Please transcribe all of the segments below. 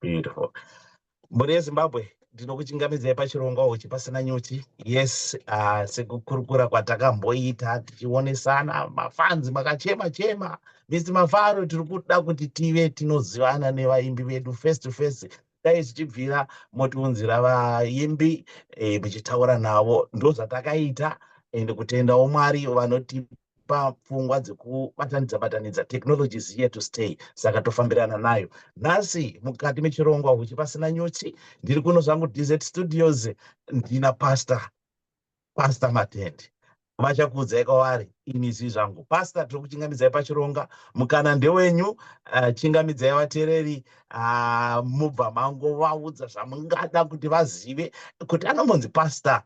beautiful mhuri yezimbabwe ndinokuchingamidzai pachirongwa uchi pasina nyuchi yes uh, sekukurukura kwatakamboita tichionesana mafanzi makachema chema mis mafaro tiri kuda kuti tive tinozivana nevaimbi vedu face to face dai zvichibvira motiunzira vaimbi eh, muchitaura navo ndozvatakaita ende kutendawo mwari vanotipa pafungwa dzekubatanidza batanidza technology is here to stay saka tofambirana nayo nhasi mukati mechirongwa huchi pasina nyuchi ndiri kuno zvangu dz studios ndina pastor pastor matende vachakuudzai kwavari ini zii zvangu pastor tiri kuchingamidzai pachironga mukana ndewenyu uh, chingamidzai vateereri uh, mubva mango vaudza zvamungada kuti vazive kuti anombonzi pastor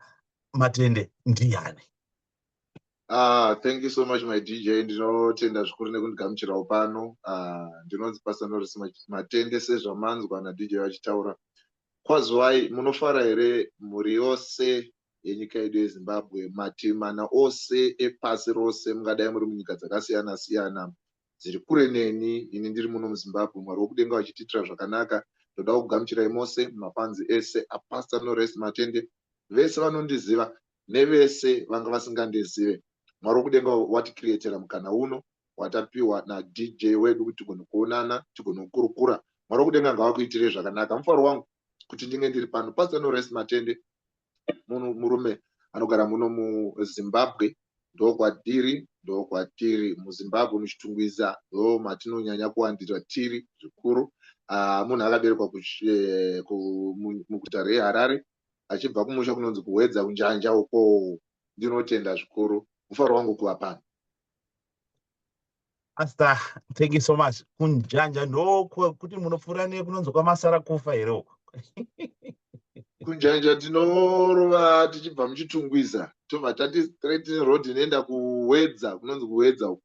matende ndiani Ah, thank you so much my DJ. Ndinotenda zvikuru nekundigamuchirawo pano. Ah, ndinonzi Pastor Norris Matende sezvamanzwa na DJ vachitaura. Kwazwai munofara here mhuri yose yenyika yedu yeZimbabwe mativi mana ose epasi rose mungadai muri munyika dzakasiyana siyana dziri kure neni ini ndiri muno muZimbabwe Mwari wokudenga vachitiitira zvakanaka ndoda kugamuchirai mose mafanzi ese aPastor Norris Matende vese vanondiziva nevese vanga vasingandizive mwari wekudenga watikiriyetera mukana uno watapiwa nadj wedu kuti tigone kuonana tigone kukurukura mwari wekudenga ngavakuitire zvakanaka mufaro wangu kuti ndinge ndiri pano pastor norest matende munhu murume anogara muno muzimbabwe ndokwadiri ndokwatiri muzimbabwe muchitungwiza ndo matinonyanya kuwandira tiri zvikuru ah, munhu akaberekwa eh, muguta reharare achibva kumusha kunonzi kuhwedza kunjanja uko ndinotenda zvikuru mufaro wangu kuva pano asta thank you so much kunjanja ndokuti munopfuura ne kunonzi kwamasara kufa here uko kunjanja tinorova tichibva muchitungwiza tobva tati straight road inoenda kuhwedza kunonzi kuhwedza uko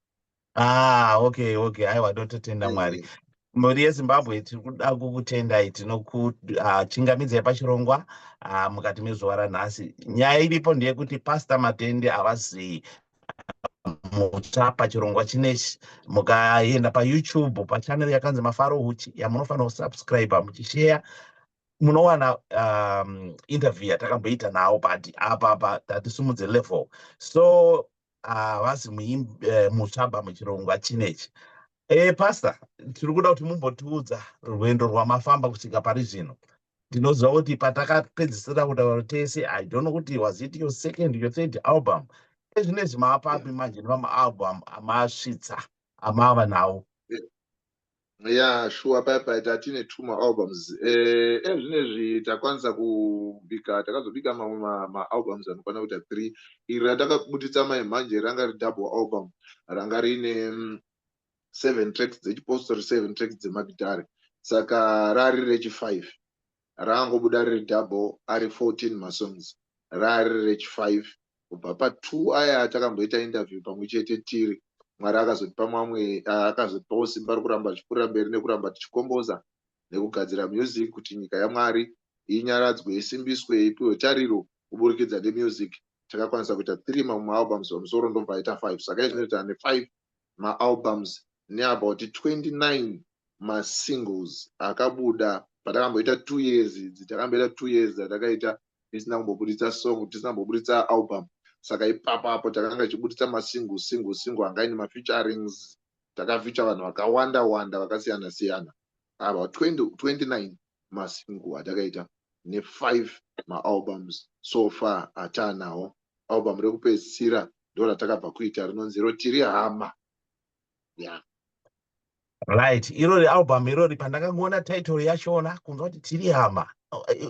ah okay okay aiwa tototenda eh, mwari eh. mhuri yezimbabwe tiri kuda kukutendai tinokuchingamidzai ah, pachirongwa ah, mukati mezuva ranhasi nyaya iripo ndeyekuti pasta matende havazii mutsva pachirongwa chinechi mukaenda payoutube pachanel yakanzi mafaro huchi yamunofanira kusubscribe muchisheya munowana um, interview yatakamboita nawo but apapa tatisimudze level so havazi ah, mutsvabha eh, muchirongwa chinechi e pasta tiri kuda kuti mumbotiudza rwendo rwamafamba kusvika pari zvino ndinoziva kuti patakapedzisira kutaura tese i don't know kuti was it your second your third album ezvinezvi maapapi manje nemamaalbum amasvitsa amava nawo Yeah, shuwa paya paya tatine two maalbums eh, ezvinezvi takwanisa kubika takazobika mamwe maalbums ma anokwana kuita three iri ratakabuditsa mai mhanje ranga ri double album ranga riine mm, seven tracks dzechipostori seven tracks dzemagitare saka rari rechifive raangobuda riri double ari 14 masongs raari rech 5 kubva pa 2 aya atakamboita interview pamwe chete tiri mwari akazotipa mamwe akazotipawo simba rekuramba tichikurira mberi nekuramba tichikomboza nekugadzira music kuti nyika yamwari inyaradzwe isimbiswe ipiwe tariro kuburikidza nemusic takakwanisa kuita three mamwe maalbums pamusoro ndobva aita five saka izvinoita ane five maalbums neabout 29 masingles akabuda patakamboita two years idzi takamboita two years dzatakaita tisina kumbobuditsa song tisina kumbobuditsa album saka ipapo apo takanga tichibuditsa masingle single single anga ine mafeaturings takafeature vanhu vakawanda wanda vakasiyana siyana ava 20, 29 masingle atakaita ne5 maalbums so far ataanawo album rekupedzisira ndo ratakabva kuita rinonzi ro tiri hama yeah. right irori album irori pandakangoona title yachona kunzwa kuti tiri hama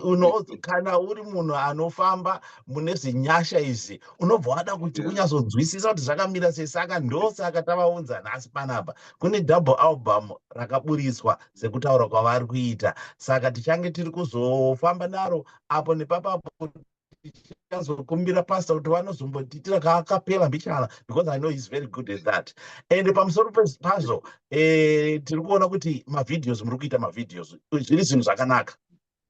unonzi kana uri munhu anofamba mune zvinyasha izvi unobva wada kuti unyazonzwisisa kuti zvakamira sei saka ndosaka tavaunza nhasi panapa kune double album rakaburitswa sekutaura kwavari kuita saka tichange tiri kuzofamba naro apo nepapapo ndichazokumbira pastor kuti vanozombotiitira kaakapela mbichana because i know he's very good at that and pamusoro pazvo eh, tiri kuona kuti mavideos muri kuita mavideos zviri zvinhu zvakanaka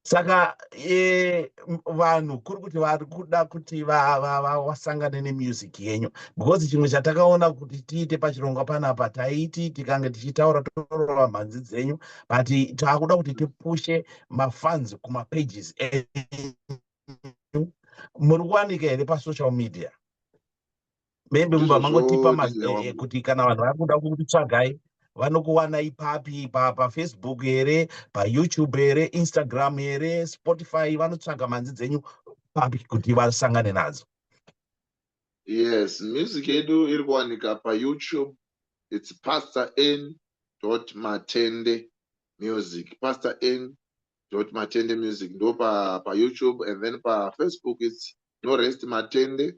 saka eh, vanhu kuri kuti vari kuda kuti vasangane nemusic yenyu because chimwe chatakaona kuti tiite pachirongwa panapa taiti tikange tichitaura torova mhanzi dzenyu but taakuda kuti tipushe mafans kumapages enyu muri kuwanika here pasocial media maybe mumba mangotipa mazee eh, kuti kana vanhu vari kuda kukutsvagai vanokuwana ipapi pafacebook here payoutube here instagram here spotify vanotsvaga manzi dzenyu papi kuti vasangane nadzo yes music yedu iri kuwanika payoutube its pastor n dot matende music pastor n dot matende music ndo pa pa youtube and then pa facebook it's no rest matende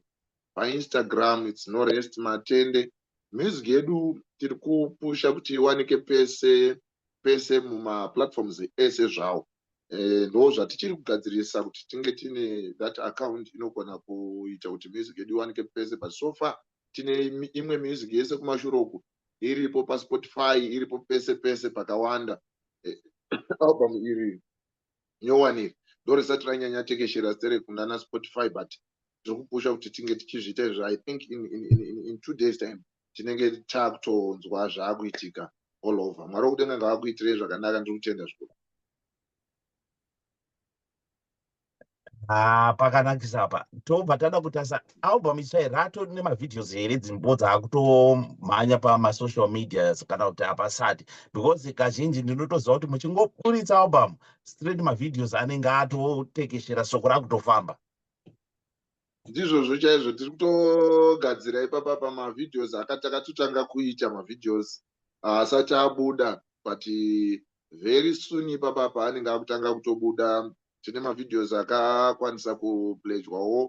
pa instagram it's no rest matende music yedu tiri kupusha kuti iwanike pese pese mumaplatforms ese zvawo eh, ndo zvatichiri kugadzirisa kuti tinge tine that account inogona kuita kuti music yedu iwanike pese but so far tine imwe music yese kumashure uku iripo paspotify iripo pese pese pakawanda eh, album iri nyowani iri ndorisati ranyanya tekeshera sere kunana spotify but tiri kupusha kuti tinge tichizviita izvo i think in, in, in, in, in two days time tinenge takutonzwa zvaakuitika all over mwari wokudenga ngavakuitirei zvakanaka ndiri kutenda zvikuru haa pakanakisa apa tobva tada kutasa album itsva here atori nemavideos here dzimbo dzaakutomhanya pamasocial medias kana kuti hapasati because kazhinji ndinotoziva kuti muchingoburitsa album straight mavideos anenge atotekeshera soko rakutofamba ndizvozvo chaizvo tiri kutogadzira ipapa pamavideos akatakatotanga kuita mavideos haasati ah, abuda but very soon ipapa paanenge akutanga kutobuda tine mavideos akakwanisa kuplejwawo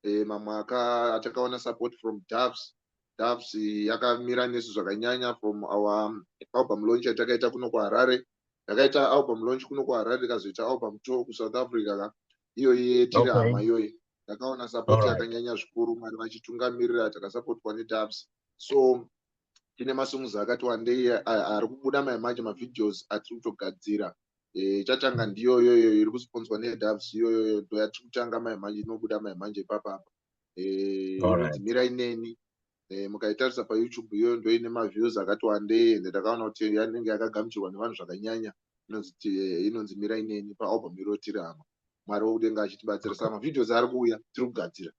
eh, mamwe aka atakaona support from dafs dafs yakamira nesu zvakanyanya from our album launch yatakaita kuno kuharare ndakaita album launch kuno kuharare ndikazoita album tour kusouth africa ka iyoyi yetiri hama iyoyi ndakaona sapoti yakanyanya zvikuru mwari vachitungamirira takasapotwa nedubs so tine masongs akati wandei ari kubuda maye manje mavideos atiri kutogadzira eh, chatanga ndiyoyoyo iri kusponzwa nedubs iyoyoyo ndoyatiri kutanga maye manje inobuda maye manje ipapapa eh, dzimira ineni eh, mukaitarisa payoutube iyoyo ndo ine maviews akati wandei ende takaona kuti yanenge yakagamuchirwa nevanhu zvakanyanya inonzi eh, inonzi mira ineni paalbum iro tiri hama mwari wokudenga achitibatsirisa mavideos ari kuuya tiri kugadzira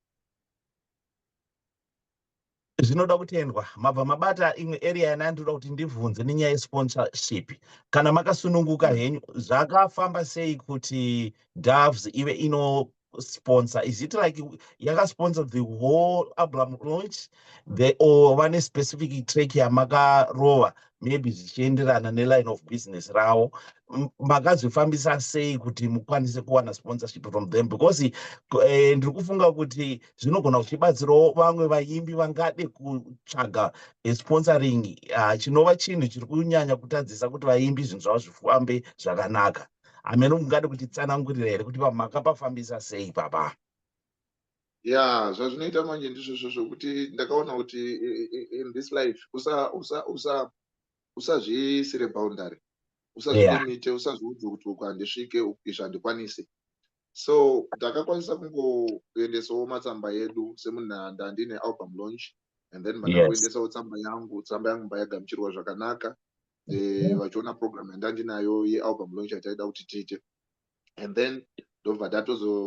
zvinoda kutendwa mabva mabata imwe area yana ndinoda kuti ndibvunze nenyaya yesponsorship kana makasununguka henyu zvakafamba sei kuti doves ive ino sponsor is it like yakasponsor the whole album launch the or vane specific track yamakarova maybe zvichienderana neline of business ravo makazvifambisa sei kuti mukwanise kuwana sponsorship from them because eh, ndiri kufunga kuti zvinogona kuchibatsirawo vamwe vaimbi vangade kutsvaga eh, sponsoring ah, chinova chinhu chiri kunyanya kutadzisa kuti vaimbi zvinhu zvavo zvifambe zvakanaka hameno mungade kutitsanangurira here kuti pamhaka pafambisa sei papa ya zvazvinoita manje ndizvozvo zvokuti ndakaona kuti in this life usazviisire boundary usazvilimite usazviudze kuti uku handisvike izvi handikwanise so ndakakwanisa kungoendesawo matsamba edu semunhanda ndine album launch and then manda kuendesawo tsamba yangu tsamba yangu mbayagamchirwa zvakanaka eh, mhm. vachiona program yandandinayo yealbum launch yataida kuti tiite and then ndobva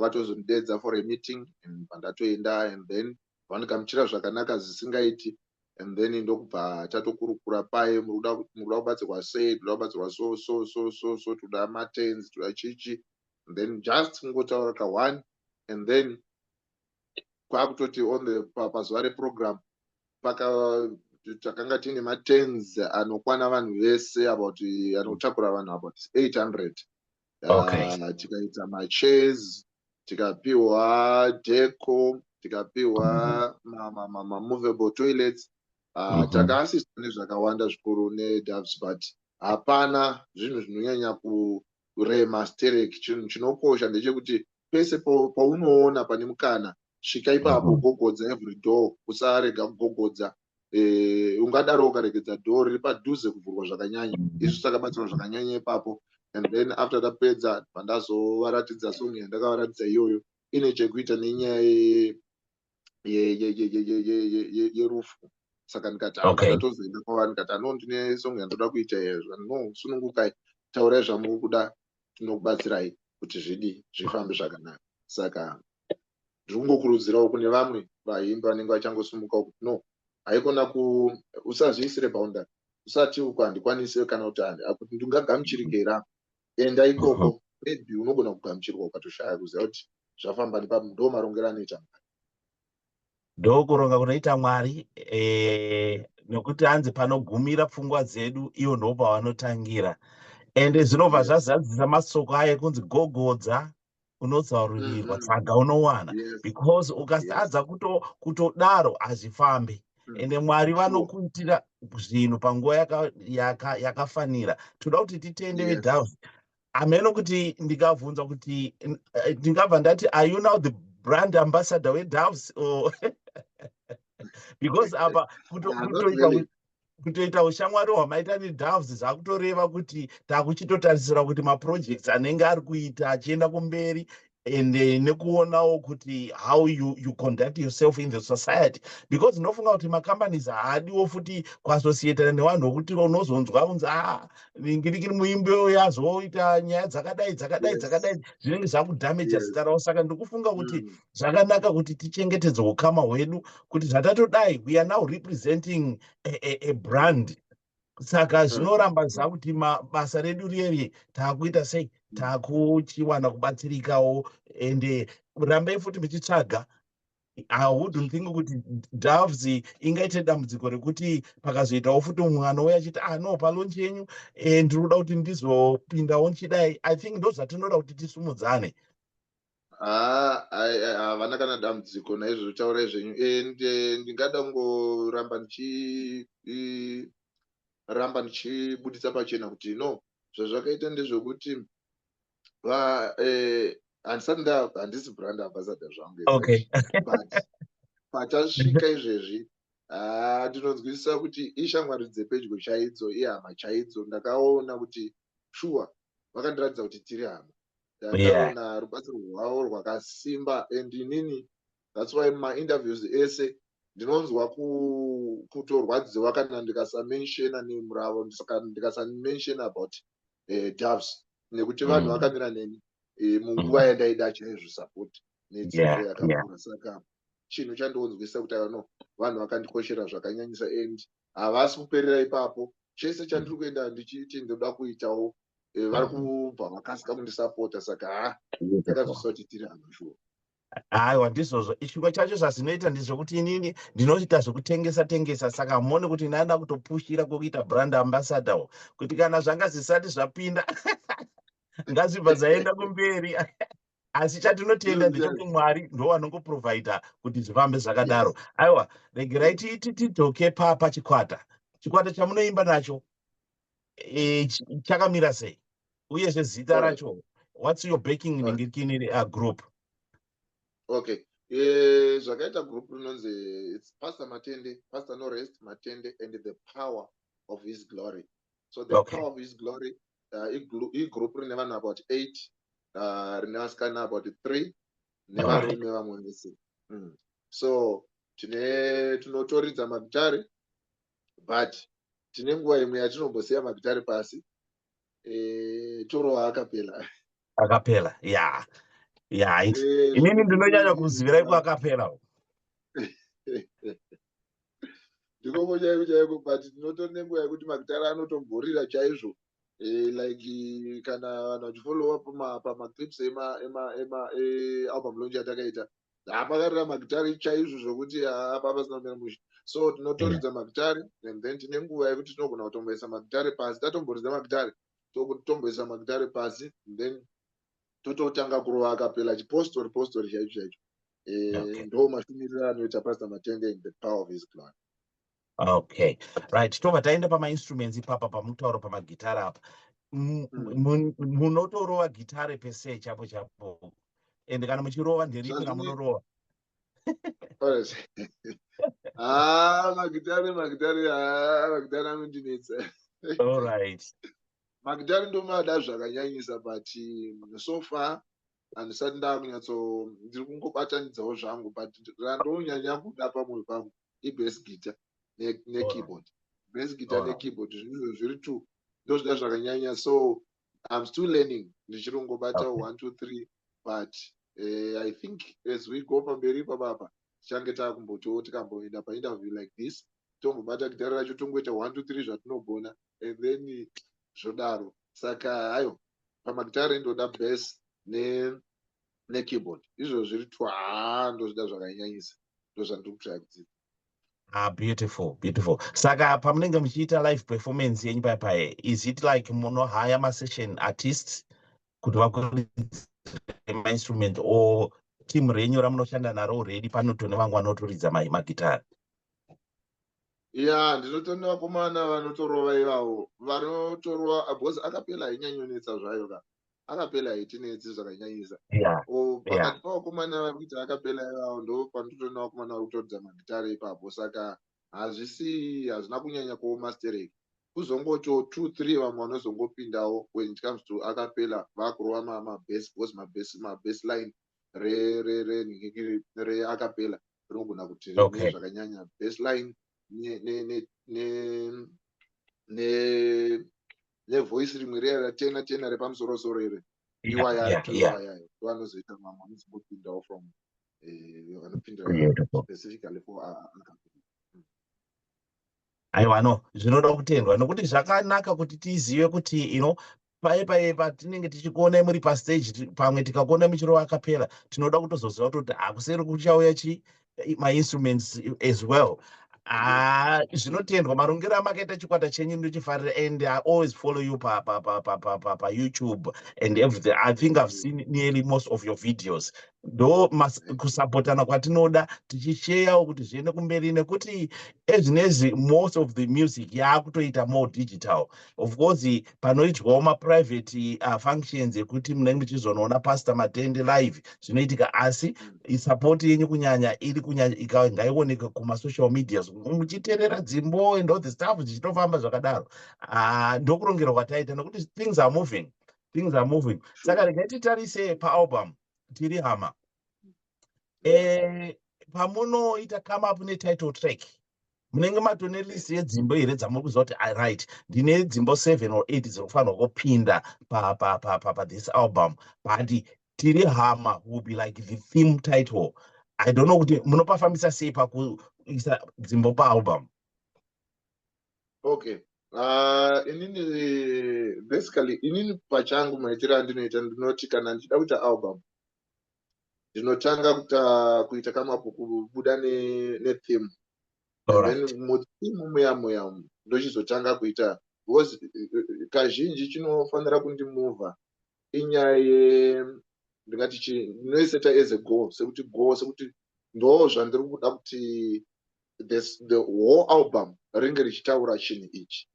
vatozonidedza for a meeting and pandatoenda and then vandigamuchira zvakanaka zvisingaiti and then ndokubva tatokurukura paye murikuda kubatsirwa sei toda kubatsirwa so so so so so toda matens toda chichi and then just kungotaura kaone and then kwakutoti on the pazuva reprogram paka takanga tiine matens anokwana vanhu vese about anotakura vanhu about 800 okay. uh, tikaita machairs tikapiwa deco tikapiwa mamovable toilets uh, mm -hmm. takaasiswa nezvakawanda zvikuru nedoves but hapana zvinhu zvinonyanya kurema sterek chinhu chinokosha ndechekuti pese paunoona pane mukana svika ipapo mhm. gogodza every door usarega kugogodza eh, ungadaro ukaregedza door riri padhuze kuvhurwa zvakanyanya mhm. izvi takabatsirwa zvakanyanya ipapo and then after tapedza pandazovaratidza song yandakavaratidza iyoyo ine chekuita nenyaya yerufu saka ndikati ndatozoenda kwavari ndikati ano ndine song yandoda kuita yezva no sunungukai taurai zvamuri kuda tinokubatsirai kuti zvidi zvifambe zvakanaka saka ndiri kungokurudzirawo kune vamwe vaimbi vanenge vachangosimukawo kuti no haikona ku usazviisire paunda usati uko handikwanise kana kuti akuti ndingagamuchirikera enda ikoko maybe unogona kugamuchirwa ukatoshaya kuziva kuti zvafamba nepa ndo marongero anoita mari ndokuronga kunoita mwari eh, nokuti hanzi panogumira pfungwa dzedu ivo ndo pavanotangira ende zvinobva zvazadzisa masoko ayo ekunzi gogodza unozaururirwa mm-hmm. saka unowana because ukasadza kutodaro hazvifambi mm. ende mwari vanokuitira zvinhu panguva yakafanira toda kuti titende vedhavi hameno kuti ndikabvunzwa kuti eh, ndingabva ndati are you now the brand ambassador wedoves or because apa kutoita ushamwari hwamaita nedoves zvakutoreva kuti takuchitotarisira kuti maprojects anenge ari kuita achienda kumberi and eh, nekuonawo kuti how you, you conduct yourself in the society because ndinofunga kuti macompanies haadiwo futi kuassociatana nevanhu vokuti unozonzwa unzi a ngirikiri muimbi uyo azoita nyaya dzakadai dzakadai dzakadai zvinenge zvakudamaja zita ravo saka ndikufunga kuti mm. zvakanaka kuti tichengetedze ukama hwedu kuti zvatatodai we are now representing a, a, a brand saka hmm. zvinoramba zva kuti basa redu riyeri taakuita sei hmm. taakuchiwana kubatsirikawo ende rambai futi muchitsvaga haudn't think kuti doves ingaite dambudziko rekuti pakazoitawo futi mwana uye achiti ah no palonchi yenyu eh, ndiri kuda kuti ndizopindawo nchidai i think ndozvatinoda kuti tisumudzane havana kana dambudziko naizvozvo taurai zvenyu and eh, ndingada kungoramba ndichiramba ndichibudisa pachena kuti no zvazvakaita ndezvekuti eh, handisati nda handisi brand ambassador zvangu but patasvika izvezvi ah, ndinonzwisisa kuti ishamwari dzepedyo chaidzo ihama chaidzo ndakaona kuti shuwa vakandiratidza kuti tiri hama ndandaona yeah. rubatsiro rwavo rwakasimba and inini thats why mainterviews ese ndinonzwa kutorwadziwa kana ndikasamenshena name ravo ndikasamenshena about uh, doves nekuti vanhu mm. vakamira neni eh, munguva mm. yandaida chaizvo support nedzidzo yakakura saka chinhu chandionzwisa kuti ano vanhu vakandikoshera zvakanyanyisa and havasi kuperera ipapo chese chandiri kuenda ndichiti ndoda kuitawo eh, vari kubva vakasika kundisapota saka ha ndakazosa kuti tiri hama shuwa aiwa ndizvozvo chimwe chacho zvazvinoita ndizvekuti inini ndinoita zvekutengesa tengesa saka mone kuti ndaenda kutopushira kwekuita brand ambassador wo kuti kana zvanga zvisati zvapinda ngazvibva zvaenda kumberi asi chatinotenda ndechekuti mwari ndo vanongoprovider kuti zvifambe zvakadaro aiwa regerai tidzoke papa chikwata chikwata chamunoimba nacho e, chakamira sei uyezve zita racho whats your backing inenge kiniri a group okay e, zvakaita group rinonzi its pastor matende pastor norest matende and the power of his glory so the okay. power of his glory uh, igroup rine vanhu about eight uh, rine vasikana about three nevarume vamwe vese mm. so tine tinotoridza magitare but tine nguva imwe yatinombosiya magitare pasi e, torowa akapela akapela ya yeah. ya yeah. e, inini ndinonyanya kuzivirai kuakapela ndikoko chaiko chaiko but tinotori nenguva yekuti magitara anotobhorira chaizvo eh, like kana vanhu vachifollowa pamaclips ealbum lonch yatakaita haapakarira magitari chaizvo zvokuti hapa pasina kumira mushe so tinotoridza mm. magitari and then tine nguva yekuti tinogona kutomboisa magitari pasi tatomboridza magitari totomboisa magitari pasi then tototanga kurova akapela chipostori postori chaicho chaicho eh, okay. ndo mashumiriro anoita pastor matende in the power of his glory okay right tobva taenda pamainstruments ipapa pamutauro pamagitara apa mm. munotorova gitare pese chapo chapo and kana muchirova nderipi ramunorova ah, magitare magitare ah, magitare anondinetsa allright magitare ndomada zvakanyanyisa but mm, so far handisati ndakunyatso ndiri kungobatanidzawo zvangu but randonyanya kuda pamwoyo pangu ibase guitar nekeyboard base guitar nekeyboard zvinhu zviri two ndozvida zvakanyanya so im still learning ndichiri kungobatawo one two three but uh, i think as we go pamberi ipapapa tichange takumbotiwo tikamboenda painterview like this tombobata gitare racho tongoita one two three zvatinogona and then zvodaro saka hayo pamagitare ndoda bas ne nekeyboard izvo zviri two haa ndozvida zvakanyanyisa ndozvandiri kutraya kudzidza Ah, beautiful beautiful saka pamunenge muchiita live performance yenyu paya paye is it like munohaya masession artists kuti vakumainstrument or team renyu ramunoshanda naro already panoto nevanga vanotoridza magitare ya ndinotenda vakomana vanotorova ivavo vanotorova because akapela hainyanyonetsa zvayo ka akapela haitinetsi zvakanyanyisa o pakati pavakomana vari kuita akapela ivavo ndo panototoenda vakomana vari kutoridza magitare ipapo saka hazvisi hazvina kunyanya kuoma stereki kuzongotiwo two three vamwe vanozongopindawo when it comes to akapela vakurova mabase because mabase line reacapella rinogona kuti rine zvakanyanya baseline nevoice rimwe riya ratena tena repamusorosoro iri iwayayayo vanozoita mamwe anozongopindawo from eh, vanopindira specifically for aiwa no zvinoda kutendwa nokuti zvakanaka kuti tizive kuti you know paye paye patinenge tichikuonai muri pastage pamwe tikakuonai muchirova akapera tinoda kutozoziva kutoti hakuseri kuchauya chi mainstruments as well haa ah, zvinotendwa marongero amakaita chikwata chenyu ndochifarira and i always follow you payoutube and everything i think i've seen nearly most of your videos ndo kusapotana kwatinoda tichisheyawo kuti zviende kumberi nekuti ezvinezvi most of the music yaakutoita more digital of course panoitwawo maprivate uh, functions ekuti munenge muchizonoona pastor matende live zvinoitika asi mm. support yenyu kunyanya iri kunyanya ngaioneke kumasocial medias muchiterera dzimbo and all the stuff zvichitofamba zvakadaro uh, ndokurongerwa kwataita nokuti things are moving things are moving saka regai titarise paalbum tiri hama eh, pamunoita come up netitle track munenge matone list yedzimbo here dzamuri kuziva kuti aright ndine dzimbo seven or eight dziri kufanirwa kupinda pathis album but tiri hama will be like the theme title i don't know kuti munopafambisa sei pakuisa dzimbo paalbum okay Uh, inini basically inini pachangu maitiro andinoita ndinoti kana ndichida kuita album ndinotanga kuta kuita kamapu kubuda netheme muthimu muya muya ndochizotanga kuita because kazhinji chinofanira kundimuvha inyaya ye ndingati chi ndinoiseta as a goal sekuti goal sekuti ndo zvandiri kuda kuti the whole album ringe richitaura chinhu ichi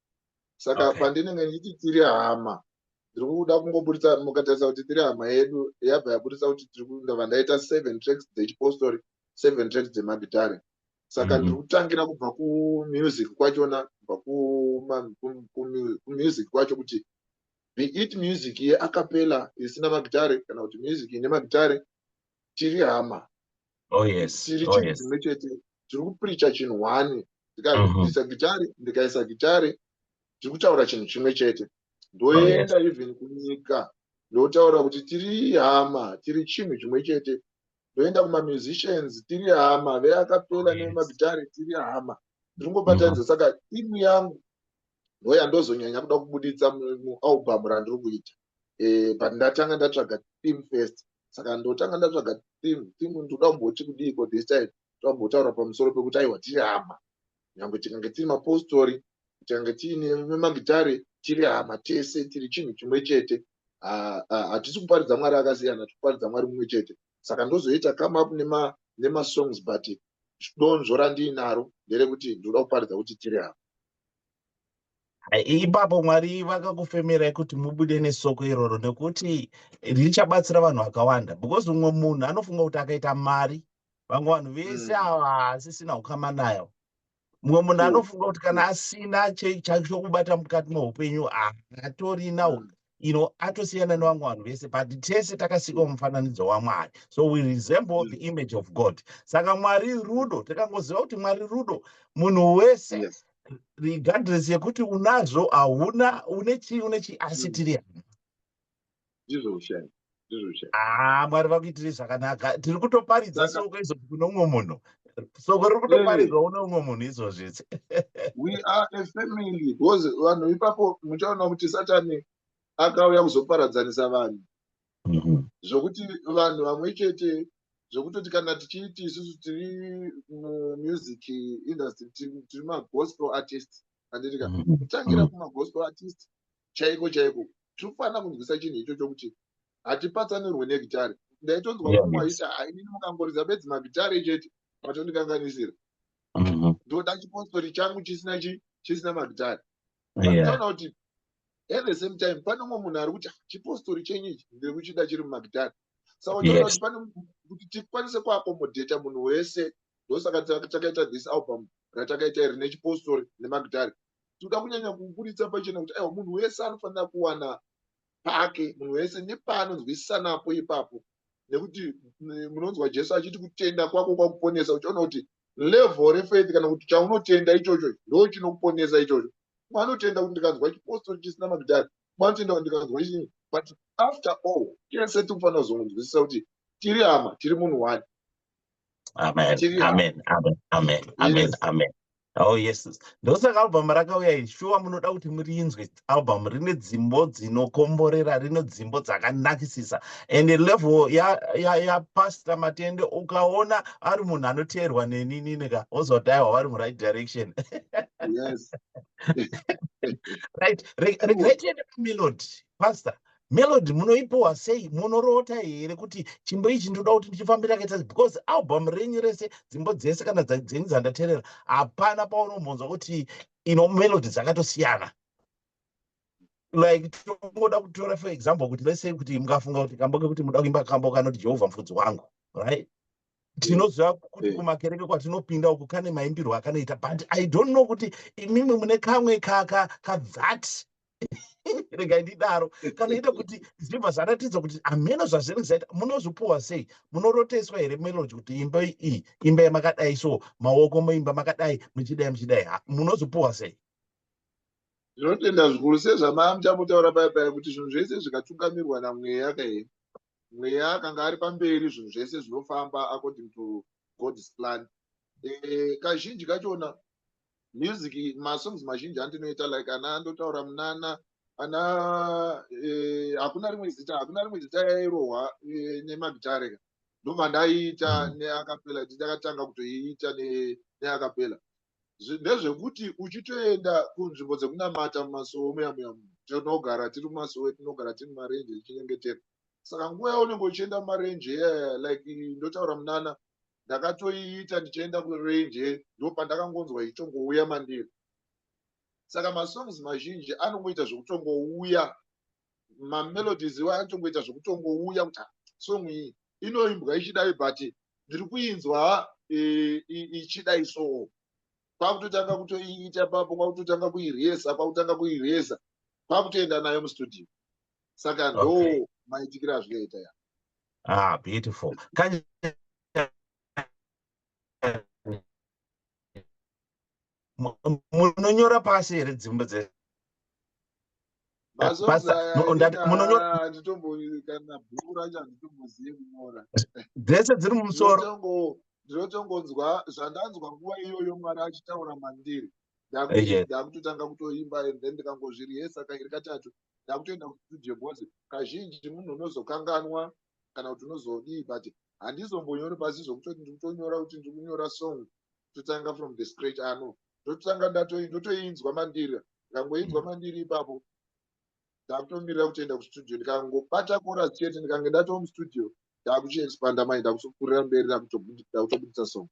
saka okay. pandinenge ndichiti tiri hama ndiri kuda kungoburitsa mukatarisa kuti tiri hama yedu yabva yaburitsa kuti tiri ndava ndaita seven tracks dzechipostori seven tracks dzemagitare saka mhm. ndiri kutangira kubva kumusic kwachona kubva kumusic kwacho kuti be it music yeakapela isina magitare kana kuti music ine magitare tiri hama oh, tiri oh, chinhu chimwe chete tiri kupiricha chinhu one ndikaisa mhm. gitare ndikaisa gitare tiri kutaura chinhu chimwe chete ndoenda oh, even kunyika ndotaura kuti tiri hama tiri chinhu chimwe chete ndoenda kumamusicians tiri hama veakapela nemagitare tiri hama ndiri ngobatanidza mhm. saka timu yangu ndoyandozonyanya kuda kubuditsa mualbum randiri kuita eh, but ndatanga ndatsvaga theme first saka ndotanga ndatsvaga theme theme ndoda kumboti kudiiko this time toda kumbotaura pamusoro pekuti aiwa tiri hama nyange tikange tiri mapostori tikange tiine magitare tiri hama tese tiri chinhu chimwe chete hatisi kuparidza mwari akasiyana tikuparidza mwari mumwe chete saka ndozoita come up nemasongs but donzvo randiinaro nderekuti ndoda kuparidza kuti tiri hama ipapo mwari vakakufemerai kuti mubude nesoko iroro nekuti richabatsira vanhu vakawanda because umwe munhu anofunga kuti akaita mari vamwe vanhu vese hmm. ava haasisina ukama nayo mumwe munhu hmm. anofunga kuti kana asina chokubata mukati meupenyu haatorina hmm. you know atosiyana nevamwe vanhu vese but tese takasikwa mufananidzo wamwari so we resemble the image of god saka mwari rudo takangoziva kuti mwari rudo munhu wese yes. regardless yekuti unazvo hauna une chii une chii asi mm. tiri hama ndizvo ushaya haa mwari vakuitire zvakanaka tiri kutoparidza soko izvozvi kune umwe munhu soko riri kutoparidzwa kune umwe munhu izvozvi we are a family because vanhu ipapo muchaona kuti satani akauya kuzoparadzanisa vanhu mhm. zvokuti vanhu vamwe chete zvokutoti kana tichiiti isusu tiri mumusic industry tiri magospel artist anditika mhm. tangira mhm. kumagospel artist chaiko chaiko tiri kufanira kunzwisa chinhu ichocho kuti hatipatsanirwe negitare ndaitonzwa vamwe vaita ainini mukangoridza bedzi magitare chete matondikanganisira mm-hmm. ndoda chipostori changu chisina chi chisina magitare aona kuti at the same time pane umwe munhu ari kuti chipostori chenyu ichi ndiri kuchida chiri mumagitare saka unoona kuti pane kuti tikwanise kuakomodheta munhu wese ndosaka takaita this album ratakaita iri nechipostori nemagitare tinoda kunyanya kuburitsa pachena kuti aiwa munhu wese anofanira kuwana pake munhu wese nepaanonzwisisanapo ipapo nekuti munonzwa jesu achiti kutenda kwako kwakuponesa uchiona kuti level refaith kana kuti chaunotenda ichocho ndo chinokuponesa ichocho mwanotenda kuti ndikanzwa chipostori chisina magidhari mwanotenda kuti ndikanzwa chii but after all tese tikufanira kuzonzwisisa kuti tiri hama tiri munhu wani amen amen amen amen amen amen Oh yes, ndosaka album rakauya iri shuwa munoda kuti murinzwe album rine dzimbo dzinokomborera rine dzimbo dzakanakisisa and level yapasita ya, ya matende ukaona ari munhu anoteerwa neninini ka wozwa kuti aiwa vari muright direction yes. right regai tiende pamelod pastor melody munoipiwa sei monoroota here kuti chimbo ichi ndinoda kuti ndichifambira kaita because album renyu rese dzimbo dzese kana dzenyu dzandaterera hapana paunombonzwa kuti ino melody dzakatosiyana like tongoda kutora for example kuti let's say kuti mukafunga kuti kambo kekuti muda kuimba kambo kanoti jehovha mufudzi wangu right tinoziva kuti eh. kumakereke kwatinopinda uku kane maimbirwo akanoita but i don't know kuti imimwe mune kamwe kaka kazat regai ndidaro kana ita kuti zvibva zvaratidza kuti hameno zvazviri zvaita munozvipuwa sei munoroteswa here melodi kuti imba iyi imba yamakadai so maoko muimba makadai muchidai muchidai munozvipuwa sei zvinotenda zvikuru sezvamaa muchamutaura paya paya kuti zvinhu zvese zvikatungamirwa namweya kaye mweya akanga ari pamberi zvinhu zvese zvinofamba according to god's plan eh, kazhinji kachona music masongs mazhinji andinoita like ana ndotaura munana ana eh, hakuna rimwe zita hakuna rimwe zita yairohwa eh, nemagitare ka ndobva ndaiita mm. neakapela ndakatanga kutoiita neakapela ndezvekuti uchitoenda kunzvimbo dzekunamata mumasowo muya muya tinogara tiri mumasowo tinogara tiri mumarenje tichinyengetera saka nguva yaunenge uchienda mumarenje yeah, like ndotaura munana ndakatoiita ndichienda kurenje ndopandakangonzwa ichitongouya mandiri saka masongs mazhinji anongoita zvekutongouya mamelodies iwa anotongoita zvekutongouya kuti ah, song iyi inoimbwa ichidai but ndiri kuinzwa eh, ichidai soo kwakutotanga kutoiita papo kwakutotanga kuireza kwakutanga kuireza kwakutoenda nayo mustudio saka ndo okay. maitikira azvinoita ya ah beautiful Kanya... munonyora pasi here dzimbo dze dzese dziri mumusoro ndinotongonzwa zvandanzwa nguva iyoyo mwari achitaura mandiri ndakutotanga kutoimba and then ndikangozviri hesaka iri katatu ndakutoenda kustudio because kazhinji munhu unozokanganwa kana kuti unozodii but handizombonyori pasi zvokutoti ndiri kutonyora kuti ndiri kunyora song totanga from the scratch ano ndotanga ndotoinzwa mandiri ndangoinzwa mandiri ipapo ndakutomirira kutoenda kustudio ndikangobata kora chete ndikange ndatomustudio ndakuchiexpanda mai ndakutokurira mberi ndakutobudisa song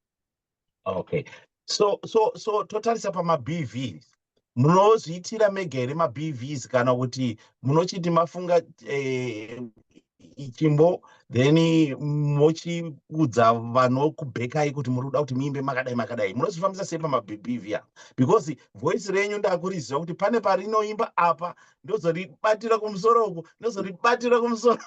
okay so so so totarisa pamabv munozviitira mega here mabvs kana kuti munochiti mafunga eh, chimbo then mochiudza vanokubhekai kuti muri kuda kuti muimbe makadai makadai munozvifambisa sei pamabhibhivhiya because voice renyu ndakuriziva kuti pane parinoimba apa ndozoribatira kumusoro uku ndozoribatira kumusoro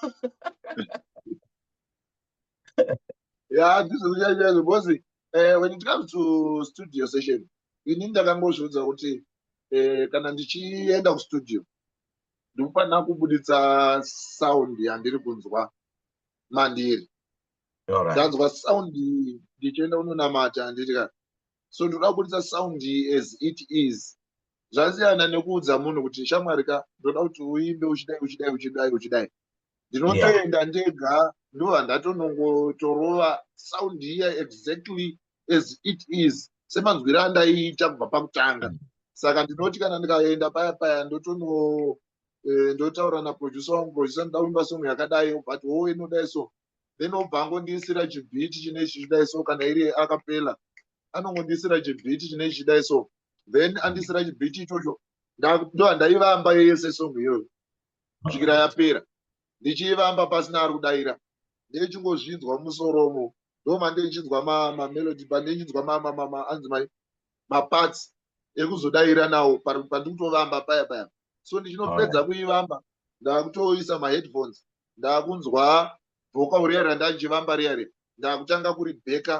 yeah this is yeah, yeah, because uh, when it comes to studio session ini ndakangozviudza kuti uh, kana ndichienda kustudio ndikufanira kubuditsa sound yandiri kunzwa mandiri ndanzwa sound ndichienda unonamata handiti ka so ndoda kubuditsa sound as it is zvasiyana nekuudza munhu kuti shamwari ka ndoda kuti uimbe uchidai uchidai uchidai uchidai ndinotoenda ndega ndova ndatonongotorova sound iya exactly as it is semanzwiro andaiita kubva pakutanga mm. saka ndinoti kana ndikaenda paya paya ndotono eh, ndotaura naproducer wangu producer ndoda kuimba song yakadai but wo inodai so then obva angondiisira chibhiti chine chichidai so kana iri akapela anongondiisira chibhiti chine chichidai so then andiisira chibhiti ichocho ndoandaivamba yese song iyoyo kusvikira yapera ndichiivamba pasina ari kudaira ndeichingozvinzwa musoromo ndo mandiichinzwa mamelodi pandichinzwa anzi mai maparts ekuzodaira nawo pandikutovamba paya paya so ndichinopedza kuivamba ndakutoisa maheadphones ndakunzwa boka uriya randanjivamba riya riya ndakutanga kuribheka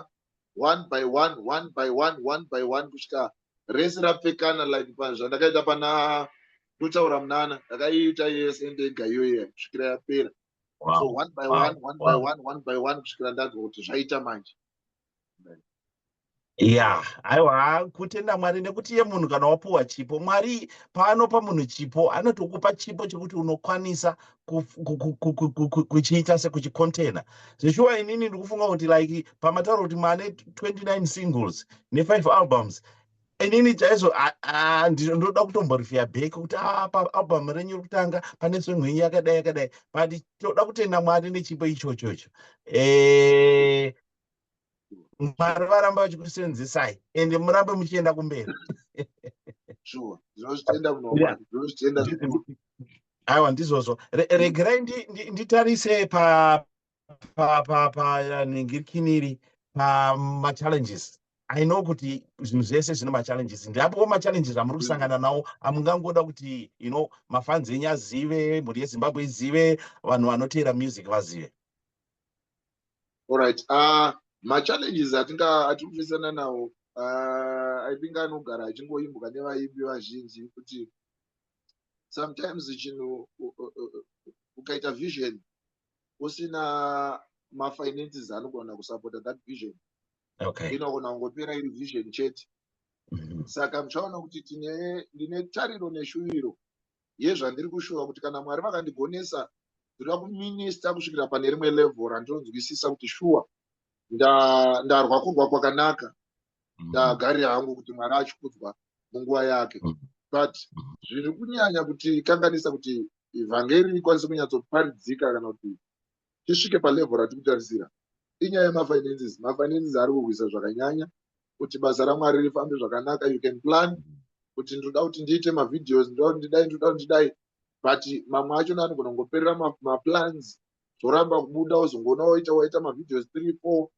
one by one one by one one by one kusvika rese rapfekana like zvandakaita pana ndotaura munana ndakaiita yese ndega iyoye kusvikira yapera so one by one one by one one by one kusvikira ndanzwa kuti zvaita manje ya aiwa kutenda mwari nekuti iye munhu kana wapuwa chipo mwari paanopa munhu chipo anotokupa chipo chekuti unokwanisa kuchiita sekuchikontena zveshuwa inini ndikufunga kuti like pamataura kuti mane 29 singles ne5 albums inini chaizvo ndoda kutomborifiya back kuti ah, paalbum renyu rekutanga pane song yenyu yakadai yakadai but toda kutenda mwari nechipo ichochocho eh, mwari varamba vachikusenzesai ende murambe muchienda kumberi aiwa ndizvozvo regerai nditarise panhingirikiniri pamachallenges i know kuti zvinhu zvese zvine machallenges ndiapowo machallenges amuri kusangana nawo amungangoda kuti you know mafanzi enyu azive mhuri yezimbabwe izive vanhu vanoteera music vazive Alright. Uh, machallenges atinga atirikufesana nawo uh, i think anogara achingoimbwa nevaimbi vazhinji kuti sometimes chinhu ukaita vision usina mafinances anogona kusapota that vision inogona kungopera iri vision chete mm-hmm. saka muchaona kuti tine ndine tariro neshuviro yezvandiri kushuva kuti kana mwari vakandigonesa ndoda kuminista kusvikira pane rimwe level randinonzwisisa kuti shuwa ndarwa kurwa kwakanaka mm-hmm. ndagarira hangu kuti mwari achikudzwa munguva yake mm-hmm. but mm-hmm. zviri kunyanya kuti kanganisa kuti evhangeri ikwanise kunyatsoparidzika kana kuti tisvike palevel ratiri kutarisira inyaya yemafinances mafinances ari kurwisa zvakanyanya kuti basa ramwari rifambe zvakanaka you can plan kuti ndinoda kuti ndiite mavideos ndinoda kuti ndidai ndinoda kuti ndidai but mamwe acho naanogona kungoperera maplans zvoramba kubuda wozongoona waita waita mavideos three four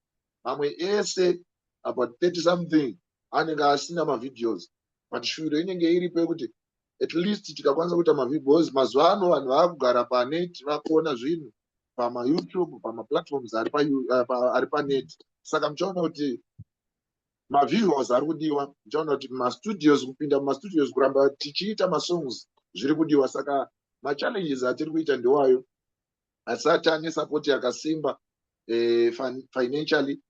mamwe ese about 30 something anenge asina mavideos but shuviro inenge iripo yekuti at least tikakwanisa kuita mavideos mazuva ano vanhu vakugara panet vakuona zvinhu pamayoutube pamaplatforms ari eh, panet saka muchaona kuti mavideos ari kudiwa muchaona kuti mastudios kupinda mumastudios kuramba tichiita masongs zviri kudiwa saka machallenges atiri kuita ndewayo asati ane sapoti yakasimba eh, financially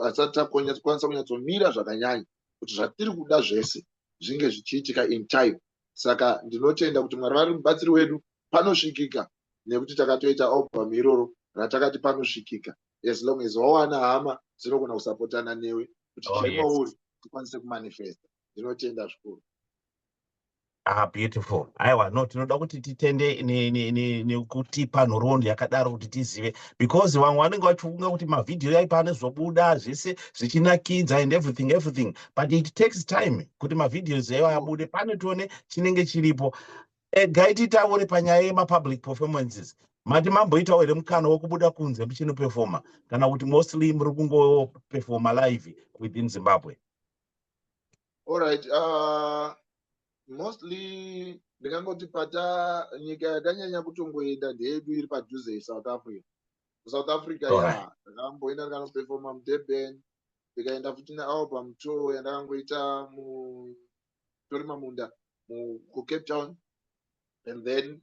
asati akwanisa kunyatsomira zvakanyanya kuti zvatiri kuda zvese zvinge zvichiitika in time saka ndinotenda kuti mwari vari mubatsiri wedu panosvikika nekuti takatoita album iroro ratakati panosvikika as long as wawana hama dzinogona kusapotana newe kuti oh, chiri mauri tikwanise kumanifesta ndinotenda zvikuru Ah, beautiful. Aiwa, no, tinoda kuti titende nekutipa nhoroondo yakadaro kuti tizive because vamwe vanenge vachifunga kuti mavhidhiyo yaipa anezvobuda zvese zvichinakidza and everything everything but it takes time kuti mavhidhios aiwa abude pane tione chinenge chiripo. Eh, gai titaure panyaya yemapublic performances mati mamboitawo here mukana wekubuda kunze muchinoperfoma kana kuti mostly muri kungoperfoma live within zimbabwe All right. Uh, mostly ndingangoti pata nyika yakanyanya kutongoenda ndeyedu iri padhuze yesouth africa kusouth africa ya ndakamboenda ndikanoperfoma mudurban ndikaenda futi nealbum tour yandakangoita mutori mamunda kucape town and then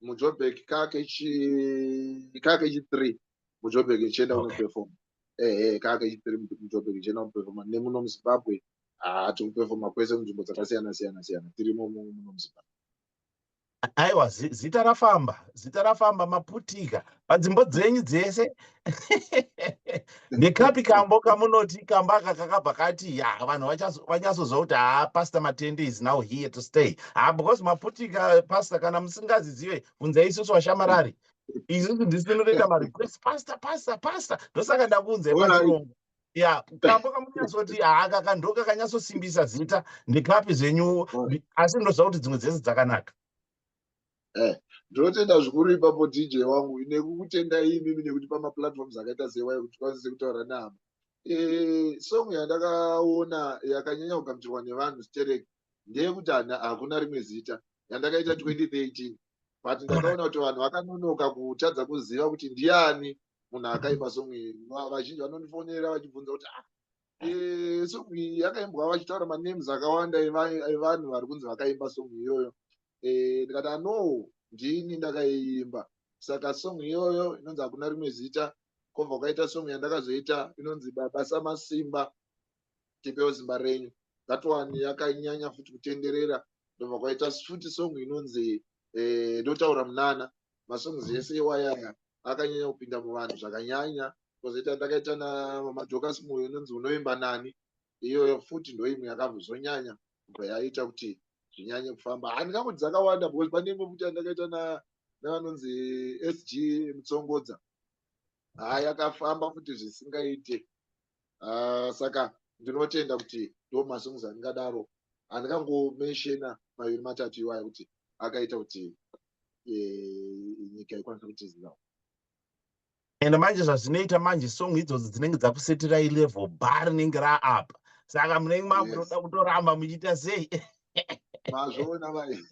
mujobek kake chi kake chi 3 mujobek ichienda okay. unoperforma ehe kake chi 3 mujobek ichienda unoperforma nemuno muzimbabwe haa tiri kuperforma kwese munzvimbo dzakasiyana siyana siyana tirimo muno muzimbabwe aiwa zita rafamba zita rafamba maputika padzimbo dzenyu dzese ndekapi kambo kamunoti kamba aka kakabva kati ya vanhu vanyatsoziva kuti haa pastor matende is now here to stay haa because maputika pastor kana musingazizive bvunzai isusu vashamarari isusu ndisi tinotoita marequest pastor pastor pastor ndosaka ndakuunzai pachirongo ya kambo kamunyatsoti haa kaka ndoka kanyatsosimbisa zita ndekapi zvenyu asi ndozva kuti dzimwe dzese dzakanaka eh ndinotenda zvikuru ipapo dj wangu nekukutendai imimi nekuti pamaplatforms akaita sewaye kuti tikwanise kutaura nehama eh, song yandakaona yakanyanya kugamuchirwa nevanhu sterek ndeyekuti hakuna rimwe zita yandakaita 2013 but ndakaona kuti vanhu vakanonoka kutadza kuziva kuti ndiani munhu akaipa song iyi vazhinji vanondifonera vachibvunza kuti ah eh, song iyi yakaimbwa vachitaura manemes akawanda evanhu vari kunzi vakaimba song iyoyo eh, ndikati ano ndini ndakaiimba saka song iyoyo inonzi hakuna rimwe zita kobva kwaita song yandakazoita inonzi baba samasimba tipewo zimba renyu that one yakanyanya futi kutenderera ndobva kwaita futi song inonzi eh, ndotaura munana masongs ese iwayaya akanyanya kupinda muvanhu zvakanyanya kozoita ndakaita namadhokas moyo inonzi unoimba nani iyoyo futi ndoimwe yakambozonyanya kubva yaita kuti zvinyanye kufamba handingambo dzakawanda because pane imwe futi yandakaita navanonzi sg mutsongodza haa yakafamba futi zvisingaite ah, saka ndinotenda kuti ndo masongs andingadaro handikangomenshena maviri matatu iwaya kuti akaita kuti eh, nyika ikwanisa kutiziva and manje zvazvinoita manje song idzodzi dzinenge dzakusetirai level bar rinenge raapa saka munenge makutoda kutoramba muchiita sei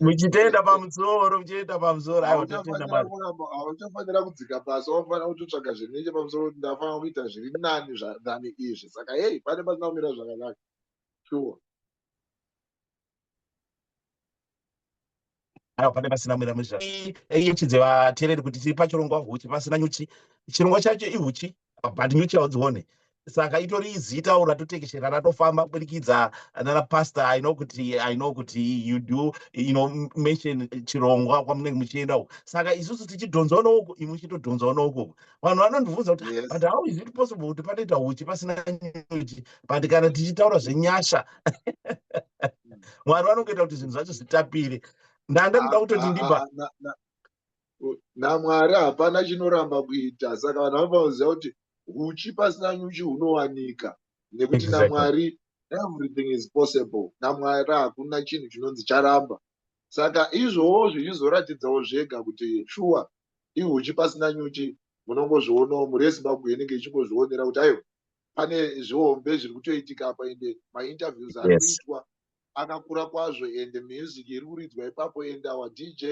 muchitoenda pamusoro muchitoenda pamusoro hauchafanira kudzika pasi wafanira kutotsvaga zvinhu neche pamusoro kuti ndafanira kuita zviri nani than izvi saka hei pane pasina kumira zvakanaka sure awa pane pasina mwira muzva yechidze vatereri kuti tiri pachirongwa huchi pasina nyuchi chirongwa chacho ihuchi but nyuchi haudzione saka itori izitawo ratotekeshera ratofamba kuburikidza nana pastor i know kuti i know kuti you do you know mention chirongwa kwamunenge muchienda uko saka isusu tichidhonzwa nouko imwe chitodhonzwa nouko vanhu vanondibvunza kuti yes. but how is it possible kuti panoita uchi pasina nyuchi but kana tichitaura zvenyasha hmm. mwari vanongoita kuti zvinhu zvacho zvitapire ndanga ndoda kutoti ndiba namwari hapana chinoramba kuita saka vanhu vanofanira kuti uchi pasina nyuchi hunowanika nekuti namwari everything is possible namwari hakuna chinhu chinonzi charamba saka izvowo zvichizoratidzawo zvega kuti shuwa ihuchi pasina nyuchi munongozvionawo mhuri yezimbabwe inenge ichingozvionera kuti aiwa pane zvihombe zviri kutoitika apa ende mainterviews ari kuitwa akakura kwazvo ende music iri kuridzwa ipapo ende awa dj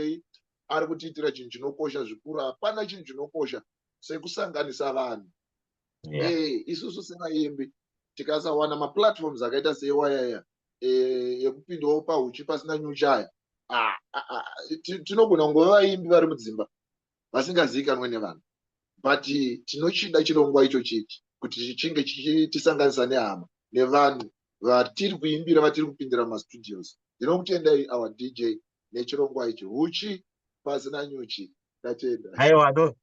ari kutiitira chinhu chinokosha zvikuru hapana chinhu chinokosha sekusanganisa vanhu yeah. eh, isusu sevaimbi tikasawana maplatforms akaita seiwayaya eh, yekupindawo pahuchi pasina nyuchaya ah, ah, ah, tinogona kungova vaimbi vari mudzimba vasingazivikanwe nevanhu but tinochida chirongwa icho chichi kuti chichinge chichitisanganisa nehama nevanhu vatiri kuimbira vatiri kupindira mumastudios ndinokutendai our dj nechirongwa ichi huchi pasina nyuchi tatenda aiwa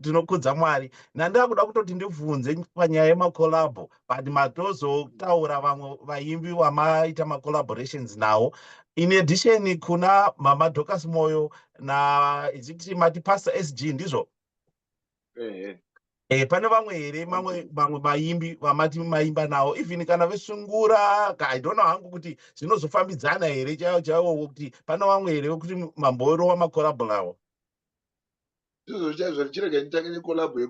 tinokudza mwari nandava kuda kutoti ndibvunze panyaya yemacolabo but matozotaura vamwe vaimbi vamaita macollaborations nawo in addition kuna mama docas moyo na iziti mati pastor sg ndizvo eh, eh, pane vamwe here mamwe vamwe vaimbi vamati maimba nawo even kana vesungura i don't know hangu kuti zvinozofambidzana here chaiwo chaiwo kuti pane vamwe here vekuti mamborova makorabho nawo izvozvo chaizvo zvichirega nditange nekolabho